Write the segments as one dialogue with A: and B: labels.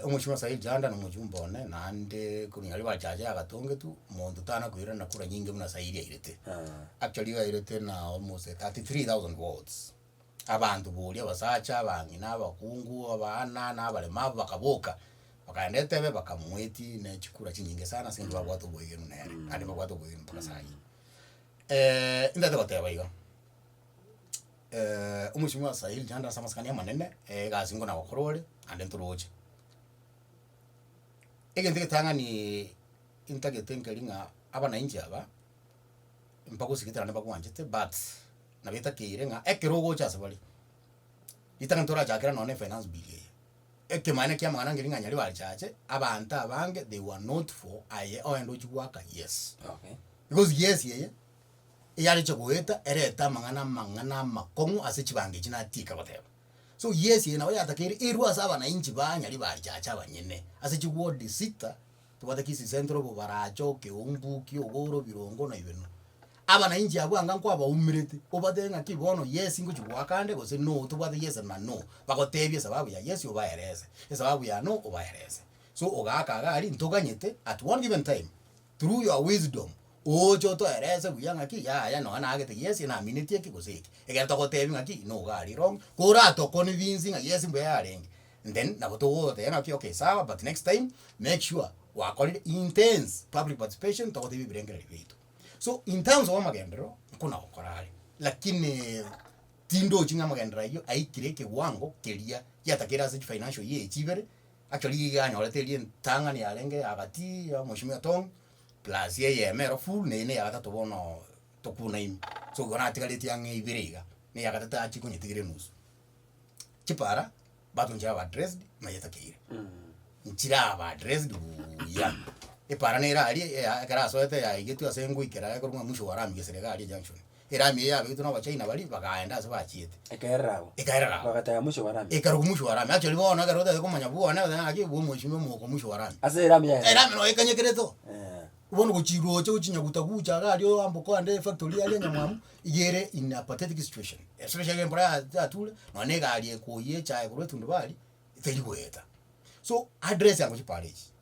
A: omochie bwa Nyasaye Janda na omochie bwa one naende korwa nyarebe achache yagatongetwe, monto tana koirana kura nyinge buna Nyasaye eria airete. Actually iga airete na almost thirty three thousand votes. Abanto boria abasacha, abang'ina, abakungu, abana, na abarema abo bakaboka, bakaenda etebe bakamoetia ne chikura chinyinge sana ase eng'encho babwate oboyegenu nere, naende nibabwate oboyegenu mpaka saa hii. ntaete goteba iga. Eh, omochie osae rinchanda ase amasikani amanene, eh, egasi ngona gokora ore, naende ntoroche. Egento egetang'ani intagete nkeri ng'a abanainchi aba, mpagosigete naende mbakwanchete but nabo etakeire ng'a ekero ogocha ase bare, ritang'ani torachakera nonya na efinance bill eye, ekemaene kia amang'ana nkeri ng'a nyari bachache, abanto abange they were not for aye oende ochie goaka yes. Okay. Because
B: yes eye.
A: eyarenge goeta erete amang'ana amang'ana amakong'u ase chibango echi natiika goteba. So yes eye nabo yatakeire erwe ase abanainchi ba nyari barichache abanyene ase chiward sita, tobwate kisii central, obobaracha, okeumbuki, oboro, birongo na ibeno. Abanainchi abwo anga nkwabaumerete obatebe ng'aki bono yes ngochi goaka ande gose no tobwate yes na no, bagotebie esababu ya yes obaerese, esababu ya no obaerese. So ogaaka iga aria ntoganyete at one given time. Through your wisdom oche otoerese buya ng'aki yaya nonya nagete yes naminetie eki gose eki, ekero togotebi ng'aki nigo iga aria wrong, kora toconvince ng'a yes mbuya yarenge and then nabo togoteba ng'aki okay sawa but next time make sure gwakorire intense public participation togotebia ebirengererio biaito. So in terms of amagenderero nko nagokora are lakini tindochi ng'a amagenderero ayio aikire ekewango keria giatakeire ase chifinancial year echi ibere Acho rigiga anyorete eria entang'ani yarenge agati ya mweshimiwa Tong plus eyemo ero full na eye na eyagatato bono tokuna ime. So igo natigaretie ang'e ibere iga, na eyagatato achie konyetigera enusu. Chipara bato nchire aba addressed na nyetakeire. Nchire aba addressed buuya. Epara nere aria eya ekero asoete yaigetwe ase engoikera aye korwa buna mwisho wa lami gesera iga aria junction. Erami eye yabegitwe n'Abachina baria, bagaenda ase bachiete. Ekerera agwo. Ekerera
B: agwo. Bagataya mochie bw'Arami. Ekarokwa mochie bw'Arami. Actually
A: bono ekero otagete komanya bwana, oteba ng'aki obwo omweshimiwa omoka omochie bw'Arami. Ase Erami yaye. Erami noyo
B: ekanyekerete
A: oo. Bono gochiroche gochinyaguta gucha iga aria oambokwa ande efactory yaria nyamwamu, iga ere in a pathetic situation. Especially ekero embura ya yature, nonya na egari ekoyia echaye korwa etundubari, teri goeta. So, address yango chipara echi,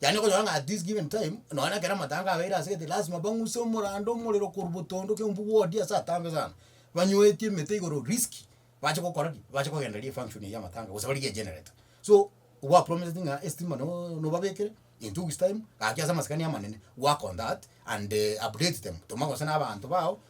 A: Yaani okonyora ng'a at this given time, nonya na ekero amatanga abeire ase egete lasima bang'use omorando omorero korwa botondo kera omonto bwodie ase atambe sana, banyoetie emete igoro risky, bache gokora ki? Bache kogendereria efunction eywo y'amatanga gose barigie egenerator. So gwapromiseti ng'a estima no nobabekere in two weeks time gaki ase amasikani amanene, work on that and update them, toma gose na abanto bao